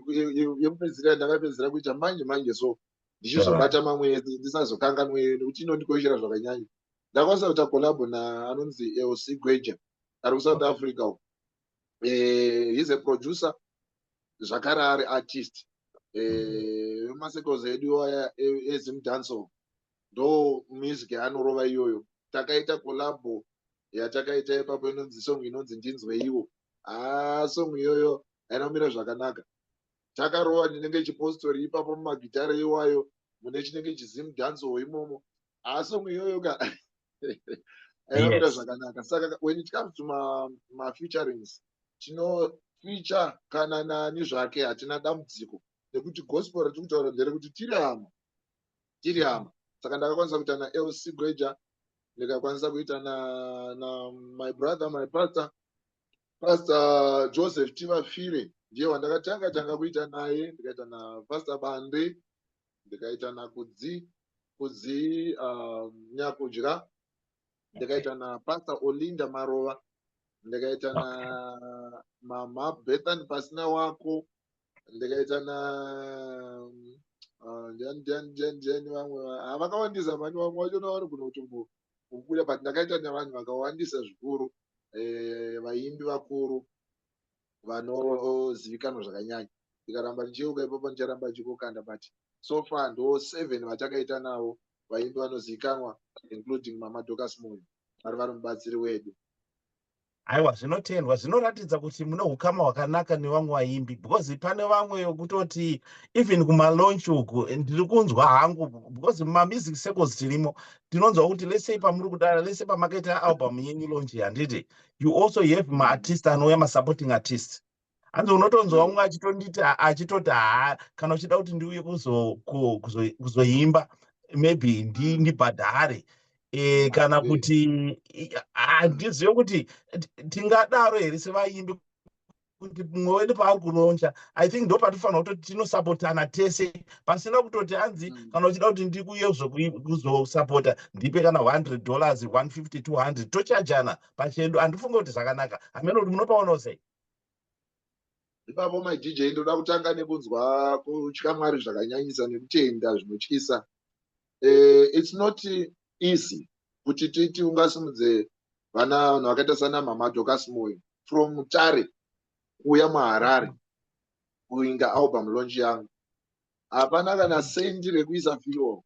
yekupedzisira yandakapedzisira kuita manje manje so ndichizobata mamwe ese ndisazokanganwe nekuti inondikoshera zvakanyanya ndakwanisa kuita kolabho naanonzi elc gweja ari kusouth africa uko eh, he's a producer zvakare ari artist eh, masekos edu aya ezim danso ndo music yaanorova iyoyo takaita kolabo yatakaita ipapo inonzi song inonzi ndinzweiwo haa ah, song iyoyo ainomira zvakanaka takarova ndinenge chipostori ipapo mumagitare iwayo mune chinenge chizim danso imomo ah song iyoyo ka ayiroda zvakanaka saka when it comes to ma ma featurings tino feature kana nani zvake hatina dambudziko nekuti gospel ratiri kutaura ndere kuti tiri hama tiri hama saka ndakakwanisa kuita na lc greja ndikakwanisa kuita na na my brother my pastor pastor joseph tivafire ndiye wandakatanga tanga kuita naye ndikaita napastor bande ndikaitana kudzi kudzi um, nyakudya ndikaita na pastor olinda marova ndikaita na mama bethan pasina wako ndikaita na um, ndiani ndiani ndiani ndiani vamwe ah, vakawandisa mani vamwe vacho navari kunotumbo kukuda but ndakaita nevanhu vakawandisa zvikuru eh, vaimbi vakuru vanozivikanwa zvakanyanya ndikaramba ndichiyeuka ipapo ndicharamba ndichikokanda but so far ndo seven vatakaita navo vaimbi vanozivikanwa including mama docas moyo vari vari mubatsiri wedu aiwa zvinotendwa zvinoratidza kuti mune ukama hwakanaka nevamwe vaimbi because pane vamwe yokutoti even kumalaunch uku ndiri kunzwa hangu because mumamizic circles tirimo tinonzwa kuti lesei pamuri kudara lese pamakaita album yenyu launch handiti you also have maartist anouya masupporting artist hanzi unotonzwa umwe achitonditi achitoti haa kana uchida kuti ndiuye kuzoimba maybe ndibhadhare ndi e, kana kuti handizive kuti tingadaro here sevaimbi kuti mumwe wedu paari kuronja i think ndo patinofanira kutoti tinosapotana tese pasina kutoti hanzi mm. kana uchida kuti ndikuye kuzosapota ndipe kana 100 dollars 150 200 tochajana pachedu handifunge kuti zvakanaka hamene kuti munopaonawo sei ipapo madj ndoda kutanga nekunzwa kutya mwari zvakanyanyisa nekutenda zvinotyisa eh, it's not easy kuti titi ungasimudze vana vanhu vakaita sana mama dokas moyo from mutare kuuya muharare kuinda album lonji yangu hapana kana sendi rekuisa fiol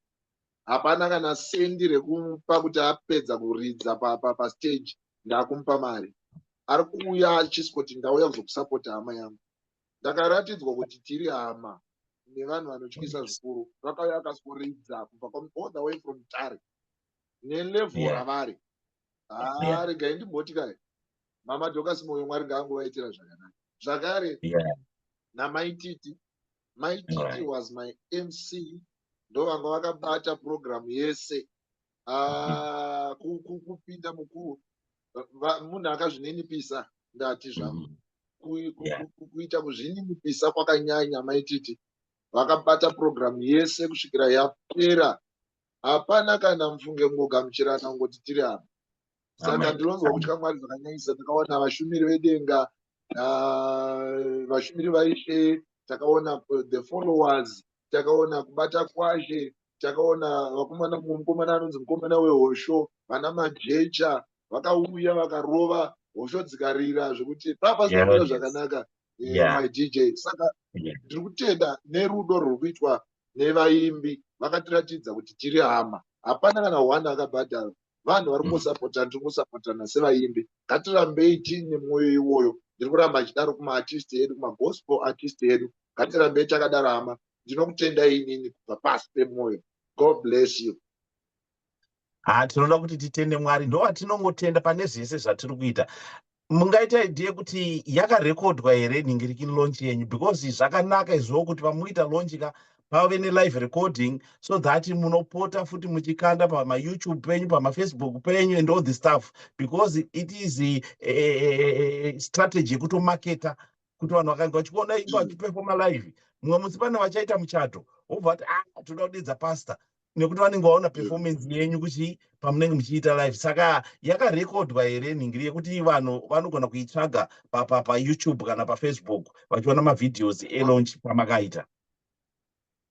hapana kana sendi rekupa kuti apedza kuridza pastage pa, pa ndakumupa mari ari kuuya achisiko kuti ndauya kuzokusapota hama yangu ndakaratidzwa kuti tiri hama nevanhu vanotyisa zvikuru vakauya vakasvoridza kubva all the way from tare nelevel ravari haa regai ndimboti kai mama dokas moyo mwari ngaangovaitira zvakanaka zvakare namaititi maititi was my mc ndovanga vakabata purogiramu yese ah, kupinda mukuru munhu akazvininipisa ndati zvangu mm-hmm. kuita kuzvininipisa kwakanyanya maititi vakabata purogiramu yese kusvikira yapera hapana kana mufunge ngogamuchirana ngoti tiri apa saka ndinonzwa kutya mwari zvakanyanyisa takaona vashumiri vedenga vashumiri vaishe takaona the followers takaona kubata kwashe takaona vakomana mumwe mukomana anonzi mukomana wehosho vana majecha vakauya vakarova hosho dzikarira zvekuti papasaira zvakanaka eh, my dj saka ndiri kutenda nerudo rwuri kuitwa nevaimbi vakatiratidza kuti tiri hama hapana kana one akabhadharwa vanhu vari kungosapota tiri kusapotana sevaimbi ngatirambei tiine mwoyo iwoyo ndiri kuramba achidaro kumaartist edu kumagospel artist edu ngatirambei takadaro hama ndinokutendai inini kubva pasi pemwoyo god bless you ha tinoda kuti titende mwari ndovantinongotenda pane zvese zvatiri kuita mungaita idea yekuti yakarekodwa here nhingirikini launch yenyu because zvakanaka izvoo kuti pamuita launch ka pave nelive recording so that munopota futi muchikanda pamayoutube penyu pamafacebook penyu and all the stuff because it is a, a, a, a strategy yekutomaketa kuti vanhu vakange vachikuona ipo mm. achiperfoma live mumwe musi pane vachaita muchato wobva vati ah tinoda kudidza pastor nekuti vanenge vaona performance yenyu kuchi pamunenge muchiita live saka yakarekodwa here nhingiri yekuti vanhu vanogona kuitsvaga payoutube kana pafacebook vachiona mavhideos elaunch pamakaita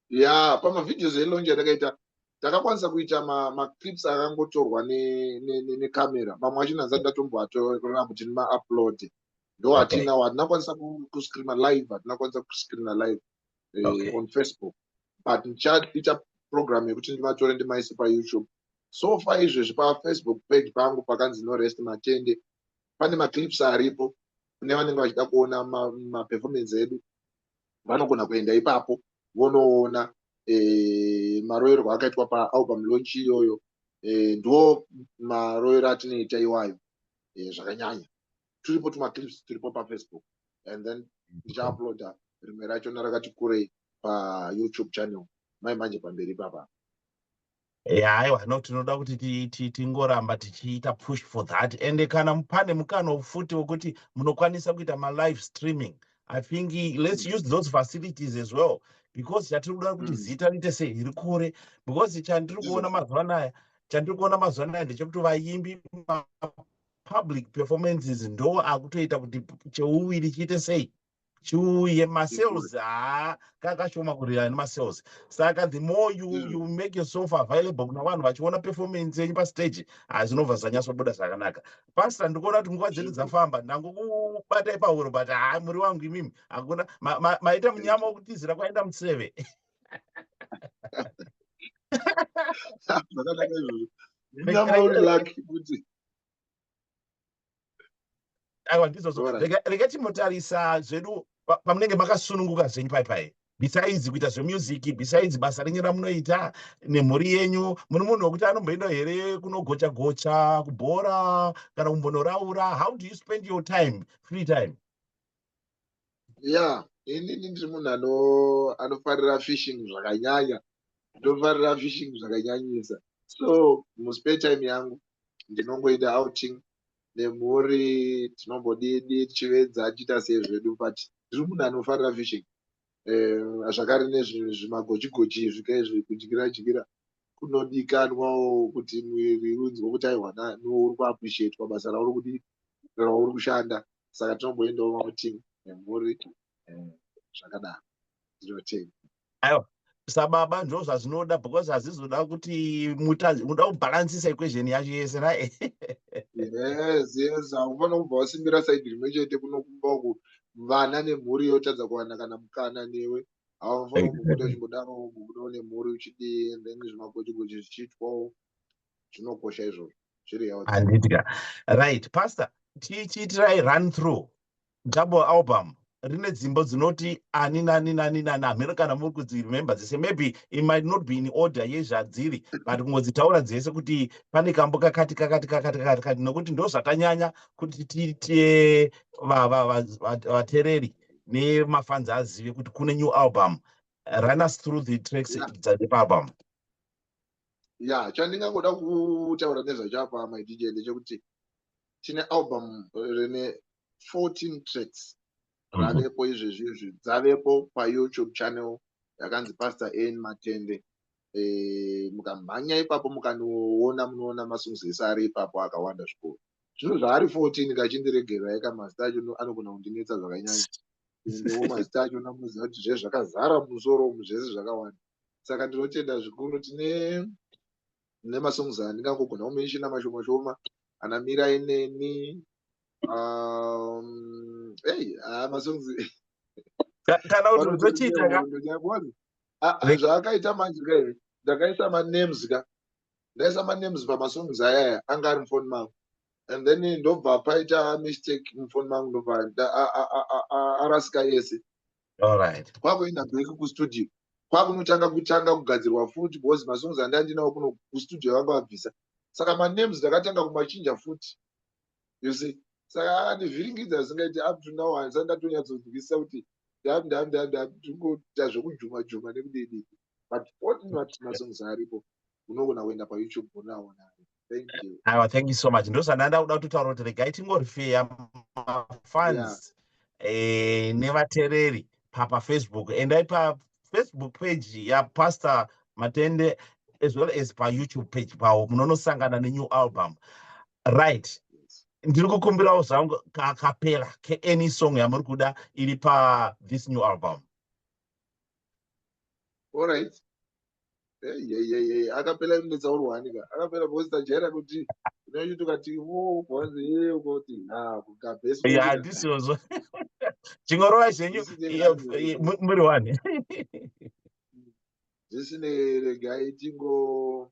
ya pamavhideos elaunch atakaita takakwanisa kuita maclips akangotorwa necamera mamwe achina asati ndatomboatorera kuti nimaupload ndo atina hatinakwanisa kuscreena live hatinakwanisa kuscreena live eh, on facebook but ndichaita program yekuti ndivatore ndimaise payoutube so far izvezvi pafacebook page pangu pakanzi no rest matende pane maclips aripo kune vanenge vachida kuona maperformance ma edu vanogona kuenda ipapo vonoona e, maroyerwo akaitwa paalbum launch iyoyo e, ndiwo maroyero atinoita iwayo e, zvakanyanya turipo tumaclips turipo pafacebook and then ndichauploada rimwe racho narakati kurei payoutube channel mai manje pamberi ipapa haiwa no tinoda kuti tingoramba tichiita push for that and kana pane mukana futi wekuti munokwanisa kuita malive streaming i think let's use those facilities as well because chatiri kuda kuti mm. zita riite sei riri kure because chandiri kuona mazuva anaya chandiri kuona mazuva anaya ndechekuti vayimbi public performances ndo akutoita kuti cheuviri chiite sei chiuye masales haa kakashoma kurira nemasales saka the more you, mm. you make yourself available kuna vanhu vachiona performance yenyu pastage hazvinobva zvanyasobuda zvakanaka pasta ndikuona kuti nguva dzedu dzafamba ndangokubatai pahuro but haa muri wangu imimi hakuna maita munyama wokutizira kwaenda museve aiwa ndizozo rega timotarisa zvedu pamunenge makasununguka zvenyu pai pai besides kuita zvemusic besides basa renyu ramunoita nemhuri yenyu muri munhu wekuti anomboenda here kunogocha gocha kubhora kana kumbonoraura how do you spend your time free time ya inini ndiri munhu ano anofarira fishing zvakanyanya ndofarira fishing zvakanyanyisa so muspare time yangu ndinongoita outing nemhuri tinombodidi tichivedza tichiita sei zvedu but ndiri munhu anofarira fishing um zvakare nezvimagochigochi izvi kaizvi kudyira dyira kunodikanwawo kuti mwiri unzwe kuti aiwa nani uri kuappreciatwa basa rauri kuti rauri kushanda saka tinomboendawo mautimu nemhuri um zvakadaro ndinotei aiwa sababa ndo zvazvinoda because hazvizoda kuti muda kubhalansisa equation yacho yese ra yes yes haufana kubva wasimbira saidi rimwe chete kunokumba uku vana nemhuri yotadza kuwana kana mukana newe haufanira kubuda chimbodaro kubuda une mhuri uchidii and then zvimagochigochi zvichiitwawo zvinokosha izvozvo zviri handidya right pastor tichiitirai run through double album rine dzimbo dzinoti ani nani nani nani hameno kana muri kudziremember dzese maybe it might not be in order yezvadziri but kungodzitaura dzese kuti pane kambo kakati kakati kakati kakati kati nokuti ndozvatanyanya kuti tiite vatereri nemafanzi azive kuti kune new album run us through the tracks dzaepaalbum yeah. ya chandingangoda kutaura nezvacho apa my dj ndechekuti tine album rine 14 tracks mhm. ravepo izvezvi izvi dzavepo payoutube channel yakanzi pastor an matende eh, mukamhanya ipapo mukanoona munoona masongs ese ari ipapo akawanda zvikuru zvino zvaari 14 kachindiregerai ka mazita acho anogona kundinetsa zvakanyanya endewo mazita acho namuziva kuti zve zvakazara musoro umu zvese zvakawanda saka ndinotenda zvikuru tine ne masongs andingangogona kumenshina mashoma shoma ana mira ineni um, hey, ah, masongs kana kuti utochiita ah, ah, zvaakaita manje ka here ndakaisa manems ka ndaisa manems pamasongs ayaya anga ari mufoni mangu and then ndobva paita mistake mufoni mangu ndobva arasika yese kwakuenda back kustudio kwakunotanga kutanga kugadzirwa futi because masongs andandinawo kuno kustudio vanga vabvisa saka manems ndakatanga kumachinja futi you see saka andivhiringidza zvisingaiti up to now handisa ndatonyatsodzikisisa kuti ndandandandandingoita zvekujuma juma nekudidi but otin vati masongs aripo unogona kuenda payoutube unaona thank you aiwa thank you so much ndozvandaenda kuda kutotaura kuti regai tingorifeya mafans eh, nevatereri papa facebook endai pafacebook page yapastor matende as well as payoutube page pawo munonosangana nenew album right ndiri kukumbirawo zvangu kakapera keany song yamuri kuda iri pa this new album allright akapela inetsaurwani ka akapela because tajaira kuti unoiti ukati wokoziyeukoti ha kugabesandisiozvo chingorova zvenyu muri wani zvisinei regai tingo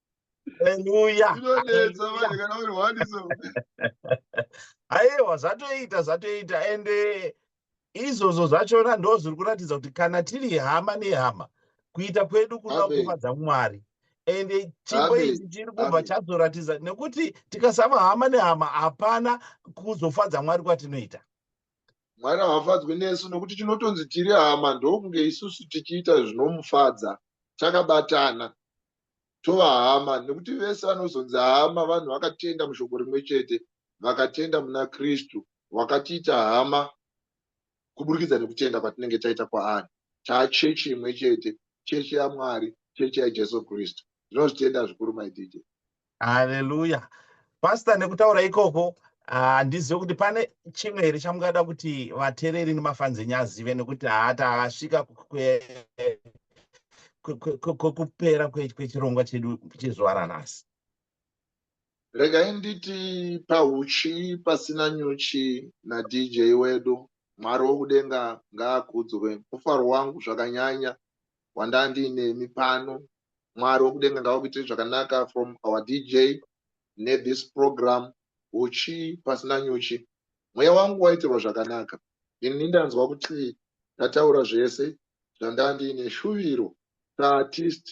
Hallelujah. Inonetsa manje kana uri one so. Aiwa zvatoita zvatoita and eh, izvozvo zvachona ndo zviri kuratidza kuti kana tiri hama nehama kuita kwedu kuda Amen. kufadza Mwari and eh, chipo Amen. ichi chiri kubva Amen. chazoratidza nekuti tikasava hama nehama hapana kuzofadza Mwari kwatinoita. Mwari haafadzwi nesu nokuti tinotonzi tiri hama ndokunge isusu tichiita zvinomufadza takabatana. tova hama nekuti vese vanozonzi hama vanhu vakatenda mushoko rimwe chete vakatenda muna kristu wakatiita hama kuburikidza nekutenda kwatinenge taita kwaari taachechi imwe chete chechi yamwari chechi yajesu kristu ndinozvitenda zvikuru maidj haleluya pasta nekutaura ikoko handizive ah, kuti pane chimwe here chamungada kuti vatereri nemafanzi enyu azive nekuti haata ah, asvika kwekupera kwechirongwa chedu chezuva ranhasi regai nditi pauchi pasina nyuchi nadj wedu mwari wokudenga ngaakudzwe mufaro wangu zvakanyanya wandandiinemi pano mwari wekudenga ngavakuitire zvakanaka from our dj ne this program huchi pasina nyuchi mweya wangu waitirwa zvakanaka ini ndanzwa kuti ndataura zvese zvandandiine shuviro saartist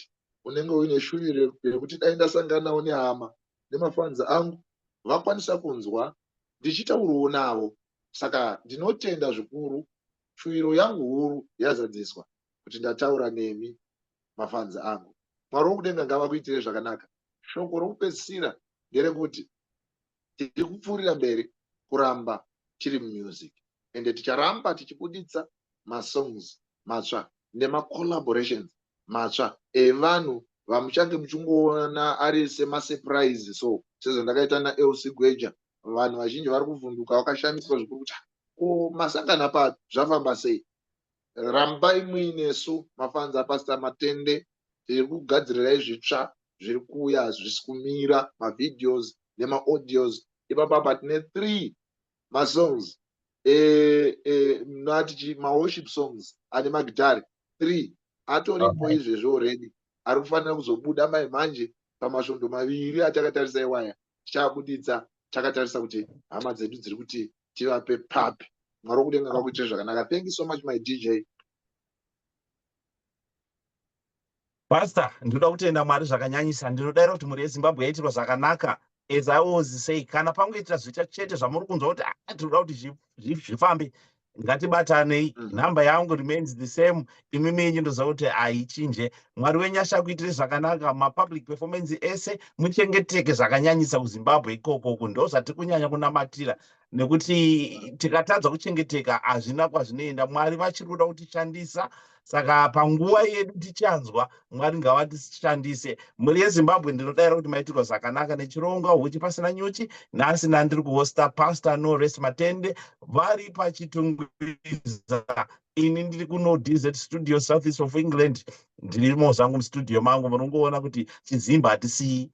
unenge uine shuviro yekuti dai ndasanganawo nehama nemafanzi angu vakwanisa kunzwa ndichitauriwo navo saka ndinotenda zvikuru shuviro yangu huru yazadziswa kuti ndataura nemi mafanzi angu mwari wokudenga ngavakuitire zvakanaka shoko rokupedzisira nderekuti tiri kupfuurira mberi kuramba tiri mumusik ende ticharamba tichibuditsa masongs matsva nemacollaborations matsva evanhu vamuchange muchingoona ari semasuprise so sezvandakaita naelc gweja vanhu vazhinji vari kuvhunduka vakashamiswa zvikuru kuti ko masangana papi zvafamba sei rambai muinesu mafanzi apasita matende tiri kugadzirirai zvitsva zviri kuuya hazvisi kumira mavideos nemaaudios ipapa apa tine three masongs mnatichi e, e, maworship songs ane magitari three atoripo izvezvi already ari kufanira kuzobuda mai manje pamasvondo maviri atakatarisa iwaya tichaabuditsa takatarisa kuti hama dzedu dziri kuti tivape papi mwari wekudenga kakuitire zvakanaka thank you so much my dj pastor ndinoda kutenda mwari zvakanyanyisa ndinodaira kuti mhuri yezimbabwe yaitirwa zvakanaka as i was say kana pangoitira zviita chete zvamuri kunzwa kuti ah, tinoda kuti zvifambe ngatibatanei mm. number yangu remains the same imwe menyu ndoziva kuti haichinje mwari wenyu achakuitire zvakanaka mapublic performance ese muchengeteke zvakanyanyisa kuzimbabwe ikoko uku ndo zvatiri kunyanya kunamatira nekuti tikatadza kuchengeteka hazvina kwazvinoenda mwari vachiri kuda kutishandisa saka panguva yedu tichanzwa mwari ngavatishandise mhuri yezimbabwe ndinodaira kuti maitirwa zvakanaka nechirongwa huchi pasina nyuchi nhasi nandiri kuhosta pastor norest matende vari pachitungwiza ini ndiri kuno dz studio south east of england ndirimo zvangu mustudio mangu munongoona kuti chizimba hatisiyi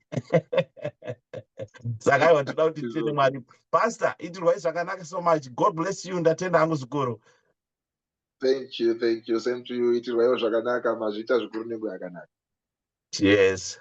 saka aiwa toda kuti tiende mwari pastor itirwai zvakanaka so much god bless you ndatenda hangu zvikuru thank you thank you same to you itirwaiwo zvakanaka mazviita zvikuru nengo yakanaka yes